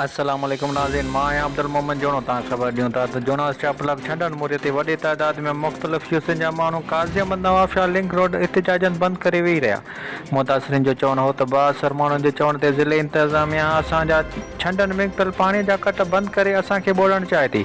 السلام عليڪم ناظرين مان آهيان عبدالمومن جوڻو توهان خبر ڏيون ٿا ته جوڻا اسٽاف بلاڪ ڇنڊڻ موري تي وڏي تعداد ۾ مختلف يوسين جا ماڻهو Qazi Ahmed Nawabshah link road احتجاجن بند ڪري ويهي رهيا متاثرين جو چوڻ هو ته بااثر ماڻهن جي چوڻ تي ضلعي انتظاميا اسان جا ڇنڊن ۾ پيل پاڻي جا ڪٽ بند ڪري اسان کي ٻوڙڻ چاهي ٿي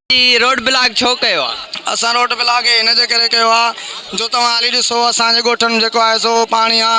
جي روڊ بلاڪ ڇو ڪيو آ؟ اسان روڊ بلاڪ هي ان جي ڪري ڪيو آ جو توهان هلي ڏسو اسان جي ڳوٺن ۾ جيڪو آهي سو پاڻي آ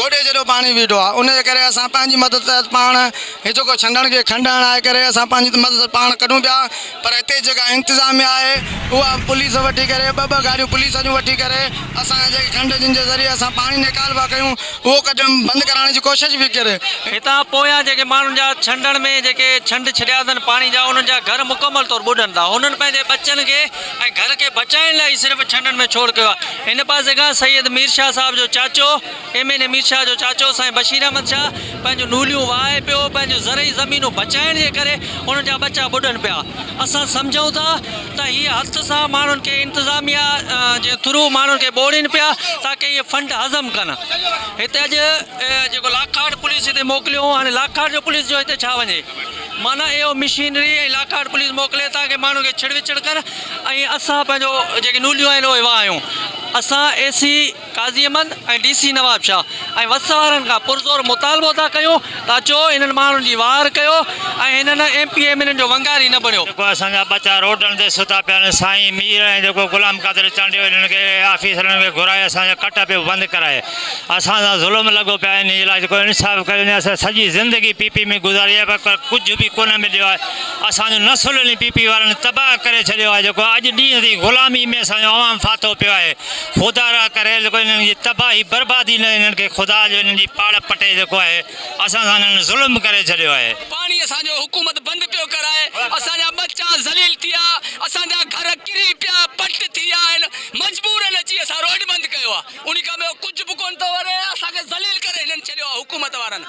گوڏي جيڏو پاڻي بيٺو آ ان جي ڪري اسان پنهنجي مدد ته پاڻ هي جيڪو ڇنڊڻ کي کنڊڻ لاء ڪري اسان پنهنجي مدد پاڻ ڪڍون پيا پر هتي جيڪا انتظاميا آهي اها پوليس وٺي ڪري ٻه ٻه گاڏيون پوليس جون وٺي ڪري اسان جي کنڊ جن جي ذريعي اسان پاڻي نيڪال ڀا ڪيون اهو ڪٽڻ بند ڪرائڻ جي ڪوشش به ڪري. هتان پويان جيڪي ماڻهن جا ڇنڊڻ ۾ جيڪي ڇنڊ ڇڏيا اٿن پاڻي جا انهن جا گهر مڪمل طور ٻڏن ٿا هنن پنهنجي ٻچن کي ۽ گهر کي بچائڻ لاء ئي صرف ڇنڊڻ ۾ ڇوڙ ڪيو آهي ان پاسي کان سيد مير شاهه صاحب جو چاچو M N A Mir Shah جو چاچو سائين بشير احمد شاهه پنهنجون نوليون وهائي پيو پنهنجون زرعي زمينون بچائڻ جي ڪري انهن جا ٻچا ٻڏن پيا اسان سمجهون ٿا ته هي هٿ سان ماڻهن کي انتظاميا جي ٿرو ماڻهن کي ٻوڙين پيا تاڪه اهي فنڊ هضم ڪن هتي اڄ جيڪو لاکاڙ پوليس هتي موڪليو هون هاڻي لاکاڙ جو پوليس جو هتي ڇا وڃي معنيٰ اهو مشينري ۽ لاکاڙ پوليس موڪلي تاڪه ماڻهن کي ڇڙ وڇڙ ڪن ۽ اسان پنهنجو جيڪي نوليون آهن اهي وهايون اسان A C Qazi Ahmed ۽ D C Nawabshah ۽ وس وارن کان پرزور مطالبو ٿا ڪيون ته اچو انهن ماڻهن جي واهر ڪيو ۽ هنن M P M N N جو ونگاري نه بڻيو. جيڪو اسان جا ٻچا روڊن تي ستا پيا آهن سائين مير ۽ جيڪو غلام قادر چانڊيو انهن کي آفيسرن کي گهرائي اسان جا ڪٽا پيو بند ڪرائي اسان سان ظلم لڳو پيو آهي انهي علاج ڪو انصاف ڪيو وڃي اسان سڄي زندگي پي پي ۾ گذاري آهي پر ڪجهه به ڪونه مليو آهي اسان جو نسل انهي پي پي وارن تباهه ڪري ڇڏيو آهي جيڪو اڄ ڏينهن تائين غلامي ۾ اسان جو عوام ڦاٿو پيو آهي خدا را ڪري جيڪو انهن جي تباهي بربادي نه انهن کي خدا جو انهن جي پاڙ پٽي جيڪو آهي اسان سان انهن ظلم ڪري ڇڏيو آهي. پاڻي اسان جو حڪومت بند پيو ڪرائي اسان جا ٻچا ذليل ٿيا اسان جا گهر ڪري پيا پٽ ٿي ويا آهن مجبورن اچي اسان روڊ بند ڪيو آهي انهي کان ٻيو ڪجهه به ڪونه ٿو وري اسان کي ذليل ڪري هنن ڇڏيو آهي حڪومت وارن.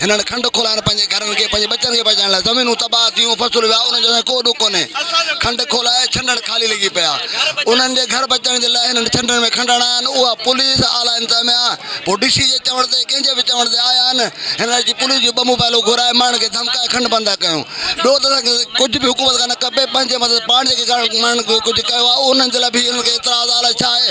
هنن کنڊ کولائڻ پنهنجي گهرن کي پنهنجي ٻچن کي بچائڻ لاء زمينون تباهه ٿيون، فصل ويا، انهن جو سائين ڪو ڏک ڪونهي. کنڊ کولائي ڇنڊڻ خالي لڳي پيا. انهن جي گهر بچائڻ جي لاء هنن ڇنڊڻ ۾ کنڊ هڻايا آهن، اها پوليس، اعليٰ انتظاميا، پوء ڊي سي جي چوڻ تي، ڪنهن جي به چوڻ تي آيا آهن. هنن اچي پوليس جون ٻه موبائلون گهرائي، ماڻهن کي ڌمڪائي کنڊ بند ٿا ڪيون. ٻيو ته اسان کي ڪجهه به حڪومت کان نه کپي، پنهنجي مٿس پاڻ جيڪي ماڻهن ڪجهه ڪيو آهي، انهن جي لاء به هنن کي اعتراض آهي، الاء ڇا آهي؟